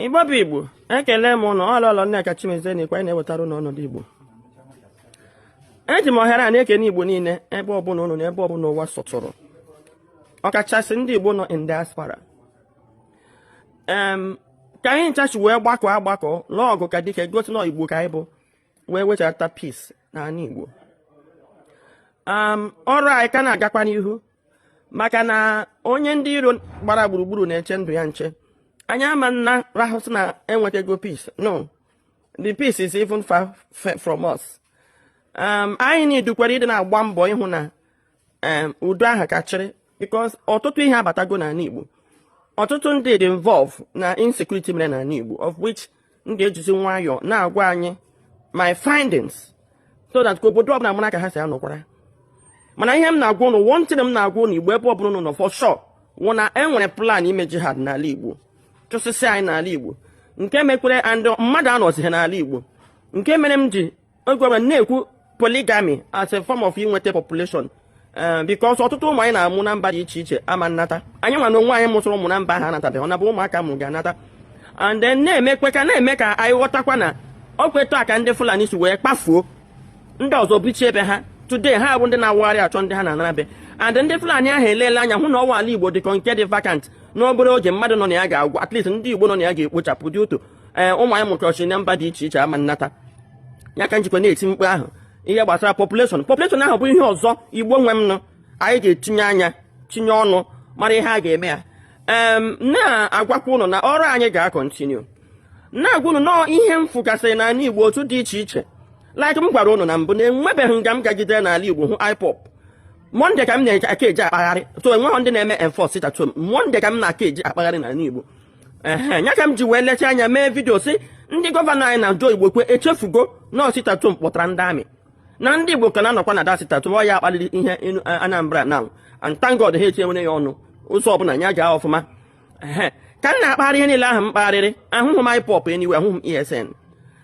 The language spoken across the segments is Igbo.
igbo bụ igbo ekele m ụnụ ọ lọlọ nneka chimezie na-ekwu anyị na-ewetara ụnụ ọnọdụ igbo eji m ohere a na-ekene igbo niile ebe ọbụla ụnụ nọ ebe ọbụla ụwa sọtụrụ ọkachasị ndị igbo nọ in diaspora ka anyị ncha si wee gbakọ agbakọ lụọ ọgụ ka dike gosi na igbo ka anyị bụ wee wechata peace n'ala igbo ọrụ anyị ka na-agakwa n'ihu maka na onye ndị iro gbara gburugburu na-eche ndụ ya nche anyị ama na-arahụ sị na enwetago peace no the peace is even far from us um, anyị na-adịkwa ready na-agba mbọ ịhụ na um, udo ahụ ka chịrị because ọtụtụ ihe abatago n'ala Igbo ọtụtụ ndị dị involve na insecurity mere n'ala Igbo of which m ga-ejizi nwayọọ na-agwa anyị my findings so that ka obodo ọbụla mara ka ha si anọkwara mana ihe m na-agwa ụnụ one thing m na-agwa ụnụ igbo ebe ọbụla ụnụ nọ for sure wụ na e nwere plan ime jihad n'ala igbo chụsịsị anyị n'ala igbo nke mekwere and mmadụ anọzighị n'ala igbo nke mere m ji Ogwara na-ekwu polygamy as a form of inweta population eh, because ọtụtụ ụmụ anyị na-amụ na mba dị iche iche ama nnata anyị nwa na onwe anyị mụsịrị ụmụ na mba ha anatabeghị ọ na bụ ụmụaka a mụrụ ga-anata and then na-emekwe ka na-eme ka anyị ghọtakwa na ọ kwa otu a ka ndị Fulani si wee kpafuo ndị ọzọ bichie ebe ha today ha bụ ndị na-awagharị achọ ndị ha na-anara be and ndị Fulani ahụ eleela anya hụ na ọ wụ ala Igbo dịka nke dị vacant n'obere oge mmadụ nọ na ya ga-agwụ at least ndị Igbo nọ na ya ga-ekpochapụ dị otu ee ụmụ anyị mụkọchi na mba dị iche iche ama nnata ya ka m jikwa na-eti mkpu ahụ ihe gbasara population population ahụ bụ ihe ọzọ igbo nwe m na anyị ga-etinye anya tinye ọnụ mara ihe a ga-eme ya na-agwakwa ụnụ na ọrụ anyị ga-continue na-agwa ụnụ nọọ ihe m fụgasịrị n'ala igbo otu dị iche iche like m gwara ụnụ na mbụ na enwebeghị nga m gagide n'ala igbo hụ ipob monday ka m na-eji aka eji akpagharị so enweghị ndị na-eme enforce sit at home monday ka m na-aka eji akpagharị n'ala igbo ehe ya ka m ji wee lecha anya mee video sị ndị governor anyị na Joe Igbokwe echefugo na ọ sit at home kpọtara ndị army na ndị Igbo ka na-anọkwa na that sit at home ọ ya kpaliri ihe inu- a- Anambra now and thank God ha etinyewere ya ọnụ ụzọ ọbụla ya gaa ọfụma ehe ka m na-akpagharị ihe niile ahụ m kpagharịrị ahụhụ m IPOB anyway ahụhụ m ESN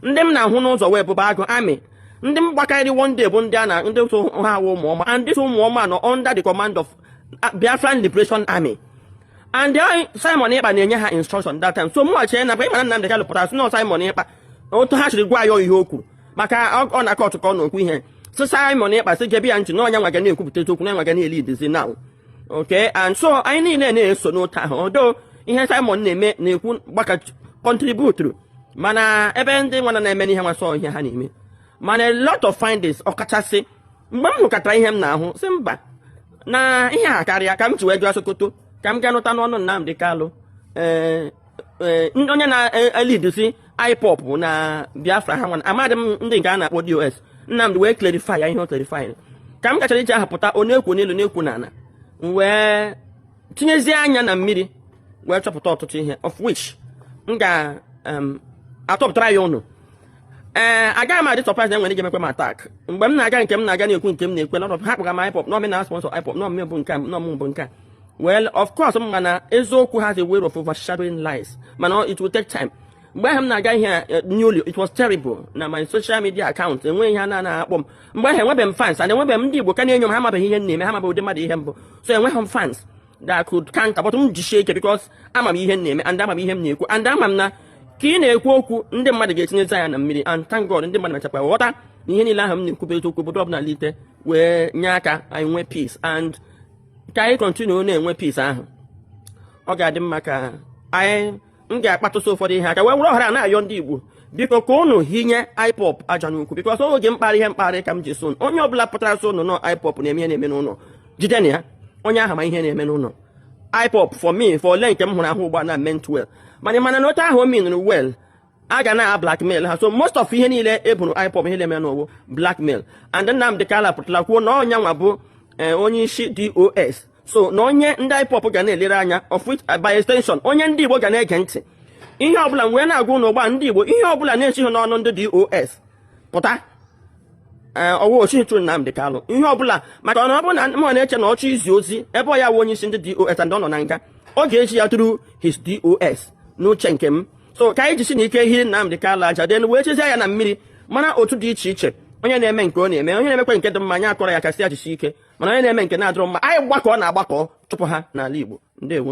ndị m na-ahụ n'ụzọ wụ Ebube Agụ army ndị m gbakarịrị one day bụ ndị a na ndị sị ha wụ ụmụọma and this ụmụọma nọ under the command of Biafran Liberation Army and Simon Ekpa na-enye ha instruction that time so mụnwa chere na ị ma na Nnamdi Kanu pụtara sị na Simon Ekpa otu ha siri gwa ya ihe o kwuru maka ọ na court ka ọ na-ekwu ihe so Simon Ekpa sị gebe ya ntị na ọ yanwa ga na-ekwupụta eziokwu na nwa ga na-eleadzi now okay and so anyị niile na-eso n'otu ahụ although ihe Simon na-eme na-ekwu gbaka contributeru mana ebe ndị nwana na-eme n'ihe nwasọ ihe ha na-eme mana a lot of findings ọkachasị mgbe m hụkọtara ihe m na-ahụ sị mba na ihe a akarịa ka m ji wee jee Sokoto ka m gaa nụta n'ọnụ Nnamdi Kanu ee Eh, onye na-elidusi eh, eh, IPOB na Biafra ha nwana amadị m ndị nke a na-akpọ DOS Nnamdi wee clarify ya ihe o clarify ka m gachara iji ahapụta onye na-ekwu n'elu na-ekwu n'ala wee tinyezie anya na mmiri wee chọpụta ọtụtụ ihe of which m ga-atọpụtara ya ụnụ ee eh, agaghị m adị surprise na e nwere ike mekwa m attack mgbe m na-aga nke m na-aga na-ekwu nke m na-ekwu na ha kpọga m IPOB na ọ mụ na-asponsọ IPOB na bụ nke a na ọ mụ bụ nke a well of course m ma na eziokwu has a way of overshadowing lies mana it will take time mgbe ahụ m na-aga ihe eh, newly it was terrible na my social media account enweghị ihe a na-anaghị akpọ m mgbe ahụ enwebeghị m fans and enwebeghị m ndị Igbo ka na-enyo m ha amabeghị ihe m na-eme ha amabeghị ụdị mmadụ ihe m bụ so enweghị m fans that could counter but m jisie ike because ama m ihe m na-eme and ama m ihe m na-ekwu and ama m na ka ị na-ekwu okwu ndị mmadụ ga-etinyezi anya na mmiri and thank God ndị mmadụ mechakwa ghọta na ihe niile ahụ m na-ekwu bụ eziokwu obodo ọbụla lite wee nye aka anyị nwee peace and ka anyị continue na-enwe peace ahụ ọ ga-adị mma ka anyị m ga-akpatụsị ụfọdụ ihe aka wee were ohere a na-ayọ ndị Igbo biko ka ụnụ hinye IPOB aja n'ukwu because oge m kparị ihe m kparị ka m ji sị onye ọbụla pụtara sị ụnụ na ọ IPOB na-eme ihe na-eme n'ụlọ jide na ya onye ahụ ma ihe na-eme n'ụlọ IPOB for me for ole nke m hụrụ ahụ ugbu a na meant well mana mana na otu ahụ o minụrụ well a ga na-ablackmail ha so most of ihe niile e boro IPOB ihe na-eme n'ụwa blackmail and Nnamdi Kanu pụtara kwuo na ọ ya nwa bụ eh, onye isi DOS so na onye ndị IPOB ga na-elere anya of which uh, by extension onye ndị Igbo ga na-ege ntị ihe ọbụla wee na-agwa ụnụ ugbu a ndị Igbo ihe ọbụla na-esighị n'ọnụ ndị DOS pụta eh, ọ wụ o sighị through Nnamdi Kanu ihe ọbụla maka ọ na ọ bụrụ na mụ na-eche na ọ chọọ izi ozi ebe ọ ya wụ onye isi ndị DOS and ọ nọ na nga ọ ga-ezi ya through his DOS n'uche nke m so ka anyị jisi na ike hiri Nnamdi Kanu aja then wee tinyezie anya na mmiri mana otu dị iche iche onye na-eme nke ọ na-eme onye na-emekwa nke dị mma anyị akụọrọ ya aka sị ya jisi ike mana onye na-eme nke na-adịrọ mma anyị gbakọ na agbakọ chụpụ ha n'ala Igbo ndewo